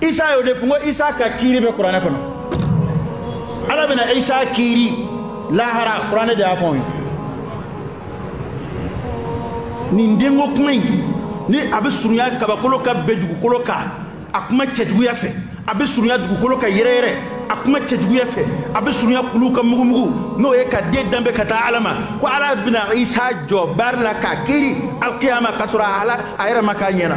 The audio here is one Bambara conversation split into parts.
isa y'o de fɔ n ko isa ka kiiri bɛ kuranɛ kɔnɔ ala bɛna isa kiiri lahara kuranɛ de y'a fɔ anw ye nin denko kuma in ni a bɛ surunya kabakolo ka bin dugukolo kan a kuma cɛjuguya fɛ a bɛ surunya dugukolo ka yɛrɛyɛrɛ a kuma cɛjuguya fɛ a bɛ surunya kuluw ka mugumugu n'o ye ka den danbe ka taa ala ma ko ala bɛna isa jɔ baari la k'a kiiri alkiyama k'a sɔrɔ ala a yɛrɛ ma k'a ɲɛna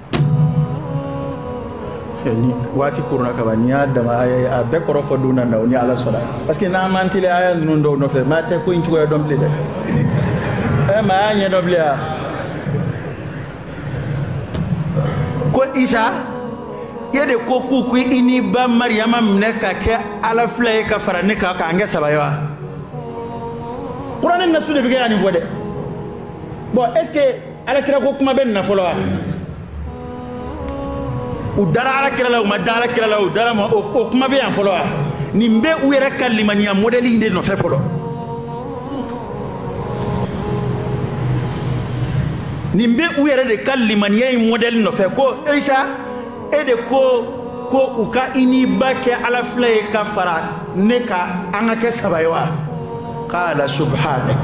waati koronna kaban n'i y'a dama aya bɛɛ kɔrɔ fɔ don nataw ni ala sɔnna parce que n'an m'an teliya aya ninnu dɔw nɔfɛ maa tɛ ko in cogoya dɔn bilen dɛ ɛ maa t'a ɲɛdɔn bilen a ko isa e de ko k'u k'i n'i ba mariyama minɛ ka kɛ ala fila ye ka fara ne kan k'an kɛ saba ye wa kuranɛ nasu de bɛ kɛ ka nin fɔ dɛ bon est ce que ala kira ko kuma bɛ nin na fɔlɔ wa u dara ala kira la u ma da ala kira la u dara ma o kuma bɛ yan fɔlɔ wa nin bɛ u yɛrɛ ka limaniya mɔdɛli in de nɔfɛ fɔlɔ nin bɛ u yɛrɛ de ka limaniya in mɔdɛli nɔfɛ ko isa e de ko ko u ka i n'i ba kɛ ala fila ye ka fara ne kan an ka kɛ saba ye wa qala subhanak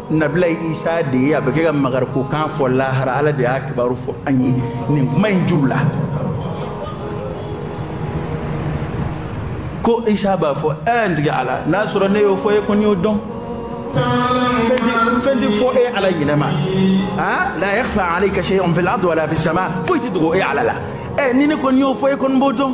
nabila isa de ye a bɛ kɛ ka makarikokan fɔ lahara ala de y'a kibaru fɔ an ye nin kuma in ju la ko isa b'a fɔ ɛ n tigi ala n'a sɔrɔ ne y'o fɔ e kɔni y'o dɔn fɛn tɛ fɔ e ala ɲinɛma a la yakhfa alayka shay'un fil ardi wala fis sama foyi tɛ dogo e ala la ɛ ni ne kɔni y'o fɔ e kɔni b'o dɔn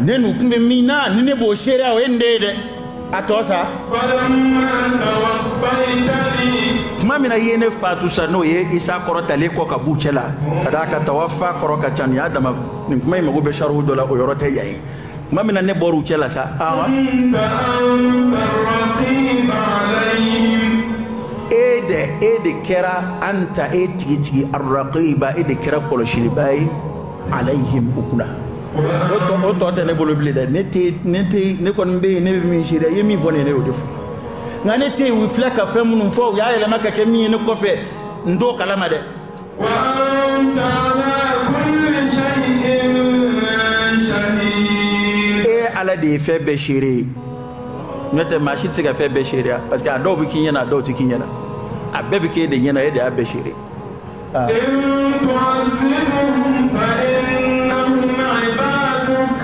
ne n'u tun bɛ min na ni ne b'o seereya o ye nin de ye dɛ a tɔ sa falamma tawaffaytani tuma min na i ye ne faatu sa n'o ye isa kɔrɔtalen kɔ ka b'u cɛ la ka d'a kan tawaffa kɔrɔ ka ca nin y'a dama nin kuma in mago bɛ sariw dɔ la o yɔrɔ tɛ yan ye tuma min na ne bɔr'u cɛ la sa awa kunta anta arraqiba alayhim e de e de kɛra anta e tigitigi arraqiba e de kɛra kɔlɔsilibaa ye alayhim u kunna o tɔ tɛ ne bolo bilen dɛ ne tɛ ne tɛ ne kɔni bɛ yen ne bɛ min seereya i ye min fɔ ne ye ne y'o de fɔ nka ne tɛ yen u filɛ ka fɛn minnu fɔ u y'a yɛlɛma ka kɛ min ye ne kɔfɛ n t'o kalama dɛ. wa anta ala kulli shay'in shahid e ala de ye fɛn bɛɛ seere ye n'e tɛ maa si tɛ se ka fɛn bɛɛ seereya parce que a dɔw bɛ k'i ɲɛna a dɔw tɛ k'i ɲɛna a bɛɛ bɛ k'e de ɲɛna e de y'a bɛɛ seere ye.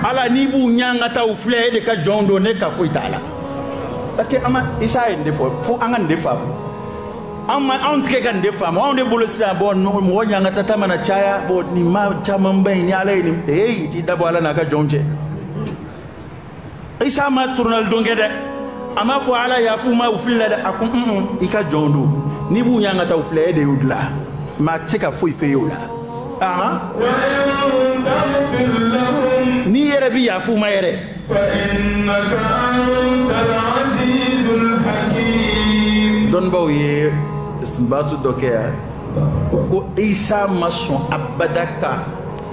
ala n'i b'u ɲangata u filɛ e de ka jɔnw don ne ka foyi t'a la parce que an ma isa ye nin de fɔ fo an ka nin de faamu an ma anw tigɛ ka nin de faamu anw de bolo sisan bɔn mɔgɔ ɲangatata mana caya bɔn nin maa camanba in ni ala ye nin ee i t'i da bɔ ala n'a ka jɔnw cɛ isa ma soronali don kɛ dɛ a m'a fɔ ala yaf'u ma u filila dɛ a ko un i ka jɔnw don n'i b'u ɲangata u filɛ e de y'u dila maa tɛ se ka foyi f'e ye o la ahan wa in taghfir lahum n'i yɛrɛ bi yafa u ma yɛrɛ fa innaka antal azizul hakim dɔnnibaaw ye istinbatu dɔ kɛ yan ko isa ma sɔn abada ka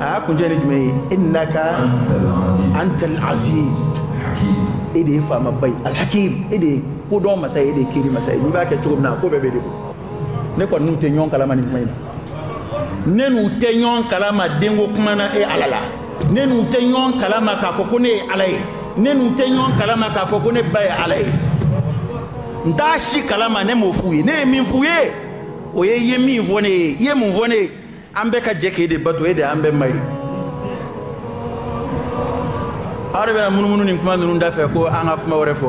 a y'a kuncɛ ni jumɛn ye innaka antal aziz e de ye faamaba ye alhakim e de ye kodɔn masa ye e de ye kiri masa ye n'i b'a kɛ cogo min na ko bɛɛ b'e de bolo ne kɔni n'u tɛ ɲɔgɔn kalama nin kuma in na ne n'u tɛ ɲɔgɔn kalama denko kuma na e ala la ne n'u tɛ ɲɔgɔn kalama k'a fɔ ko ne ye ala ye ne n'u tɛ ɲɔgɔn kalama k'a fɔ ko ne ba ye ala ye n t'a si kalama ne m'o f'u ye ne ye min f'u ye o ye i ye min fɔ ne ye i ye mun fɔ ne ye an bɛɛ ka jɛ k'e de bato e de an bɛɛ ma ye aw de bɛna munumunu nin kuma ninnu da fɛ ko an ka kuma wɛrɛ fɔ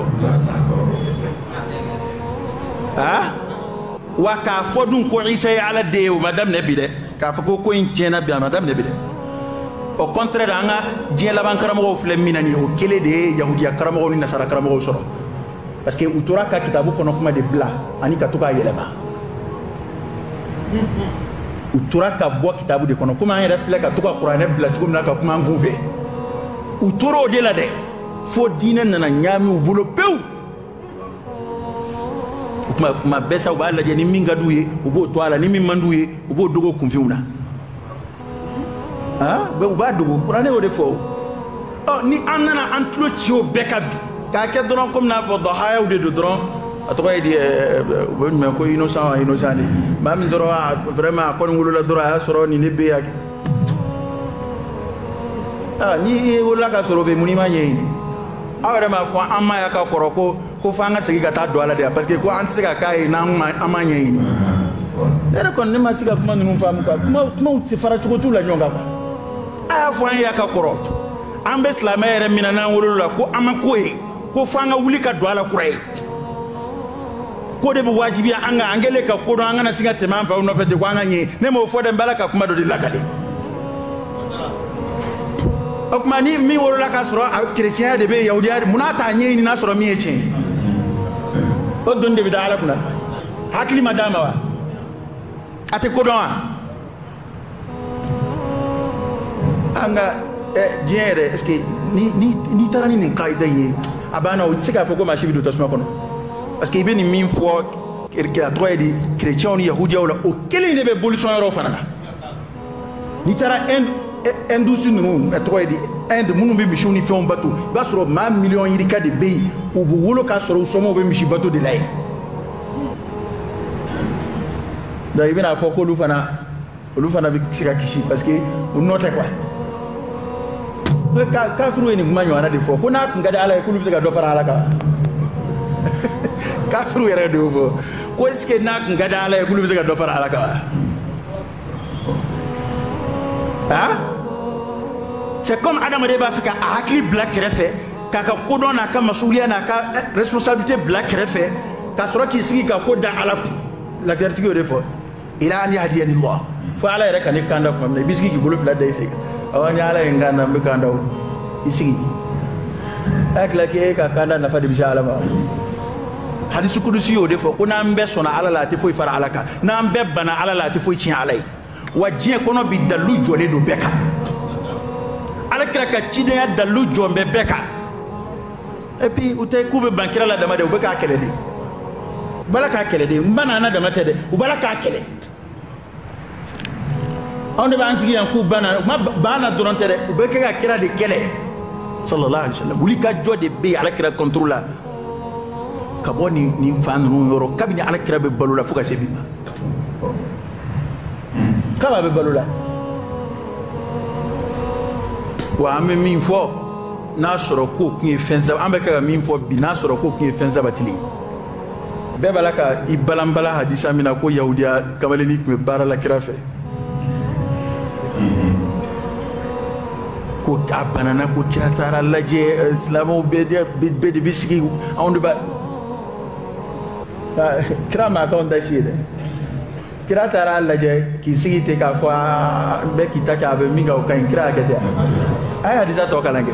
awa k'a fɔ dun ko isa ye ala den ye o ma daminɛ bi dɛ k'a fɔ ko ko in tiɲɛna bi a ma daminɛ bi dɛ au contraire an ka diɲɛ laban karamɔgɔw filɛ min na nin ye o kelen de ye yahudiya karamɔgɔw ni nasara karamɔgɔw sɔrɔ parce que u tora ka kitabu kɔnɔ kuma de bila ani ka to k'a yɛlɛma u tora ka bɔ kitabu de kɔnɔ komi an yɛrɛ filɛ ka to ka kuranɛ bila cogo min na ka kuma an kun fɛ u tora o de la dɛ fo diinɛ nana ɲaami u bolo pewu o tuma kuma bɛɛ sa u b'a lajɛ ni min ka d'u ye u b'o to a la ni min man d'u ye u b'o dogo kunfinw na Ah, u b'a dogo kuranɛ y'o de fɔ o ɔ ni an nana an tulo ci o bɛɛ kan bi k'a kɛ dɔrɔn komi n'a fɔ dahayaw de don dɔrɔn a tɔgɔ ye di u bɛ jumɛn ko innocent wa innocent de maa min dɔrɔn a vraiment a kɔni wolola dɔrɔn a y'a sɔrɔ nin de bɛ yan n'i wolola k'a sɔrɔ o bɛ mun n'i m'a ɲɛɲini aw yɛrɛ m'a fɔ an ma yan ka kɔrɔ ko ko fo an ka segin ka taa don a la de parce que ko an tɛ se ka k'a ye n'an m'a ɲɛɲini ne yɛrɛ kɔni ne ma se ka kuma ninnu faamu quoi kumaw tɛ se fara cogo t'u la ɲɔgɔn kan quoi a y'a fɔ an ye yan ka kɔrɔ an bɛ silamɛ yɛrɛ min na n'an wolola a la ko an ma ko ye ko fo an ka wuli ka don a la kura ye k'o de bɛ wajibiya an kan an kɛlen ka ko dɔn an kana sin ka tɛmɛ an faw nɔfɛ ten ko an ka ɲɛ ne m'o fɔ dɛ n bɛ ala ka kuma dɔ de lakale o tuma ni min wolola k'a sɔrɔ a kerecɛnya de bɛ yen yahudiya mun na a t'a ɲɛɲini n'a sɔrɔ min ye tiɲɛ ye o doni de bɛ da ala kunna hakili ma d'a ma wa a tɛ kodɔn wa an ka diɲɛ yɛrɛ est ce que n'i taara ni nin kaida in ye a banna o tɛ se k'a fɔ ko maa si bɛ don tasuma kɔnɔ parce que i bɛ nin min fɔ a tɔgɔ ye di kerecɛnw ni yahudiyaw la o kelen de bɛ bolisɔn yɔrɔ fana na n'i taara hindouistes ninnu tɔgɔ ye di inde minnu bɛ misiw ni fɛnw bato i b'a sɔrɔ maa miliyɔn yirika de bɛ yen u bɛ wolo k'a sɔrɔ u somɔgɔw bɛ misi bato de la yen donc i bɛna fɔ k'olu fana olu fana bɛ se ka kisi parce que u nɔ tɛ quoi kafiriw ye nin kuma ɲɔgɔnna de fɔ ko n'a tun ka di ala ye k'olu bɛ se ka dɔ fara ala kan kafiriw yɛrɛ de y'o fɔ ko est ce que n'a tun ka di ala ye k'olu bɛ se ka dɔ fara ala kan wa. aa c'est comme adamaden b'a fɛ ka a hakili bila kɛrɛfɛ k'a ka kodɔn n'a ka masuliya n'a ka responsabilité bila kɛrɛfɛ ka sɔrɔ k'i sigi ka ko da ala kun lagɛritigi y'o de fɔ ila an yahdiyani allah fo ala yɛrɛ ka ne kanda tuma min na i b'i sigi k'i bolo fila da i sen kan awɔ ni ala ye n kanda n bɛ kanda o i sigi a kɛra k'e ka kanda nafa de bɛ se ala ma hadisi kudusi y'o de fɔ ko n'an bɛɛ sɔnna ala la a tɛ foyi fara ala kan n'an bɛɛ banna ala la a tɛ foyi tiɲɛ ala ye wa diɲɛ kɔnɔ bi dalilu jɔlen don bɛɛ kan ala kira ka cidenya dalilu jɔlen bɛ bɛɛ kan et puis u tɛ k'u bɛ ban kira la dama dɛ u bɛ k'a kɛlɛ de u b'a la k'a kɛlɛ de u banna a la dama tɛ dɛ u b'a la k'a kɛlɛ anw de b'an sigi yan k'u banna u banna dɔrɔn tɛ dɛ u bɛ kɛ ka kira de kɛlɛ sallallahu alaihi wa sallam wulikajɔ de bɛ yen ala kira contre la ka bɔ nin nin fan ninnu yɔrɔ kabini ala kira bɛ balo la fo ka se bi ma kab'a bɛ balo la wa an bɛ min fɔ n'a sɔrɔ k'o tun ye fɛn saba an bɛ ka ka min fɔ bi n'a sɔrɔ k'o tun ye fɛn sabatilen ye bɛɛ b'a la ka i balanbala hadisa min na ko yahudiya kamalenni tun bɛ baara la kira fɛ ko a banana ko kira taara a lajɛ eh, silamɛw bɛɛ de bɛ sigi anw de b'a ah, kira ma k'anw ta si ye dɛ kira taara a lajɛ k'i sigi ten k'a fɔ ah, bɛɛ k'i ta kɛ a bɛ min kɛ o ka ɲi kira y'a kɛ ten a ye hadisa tɔ kalan kɛ.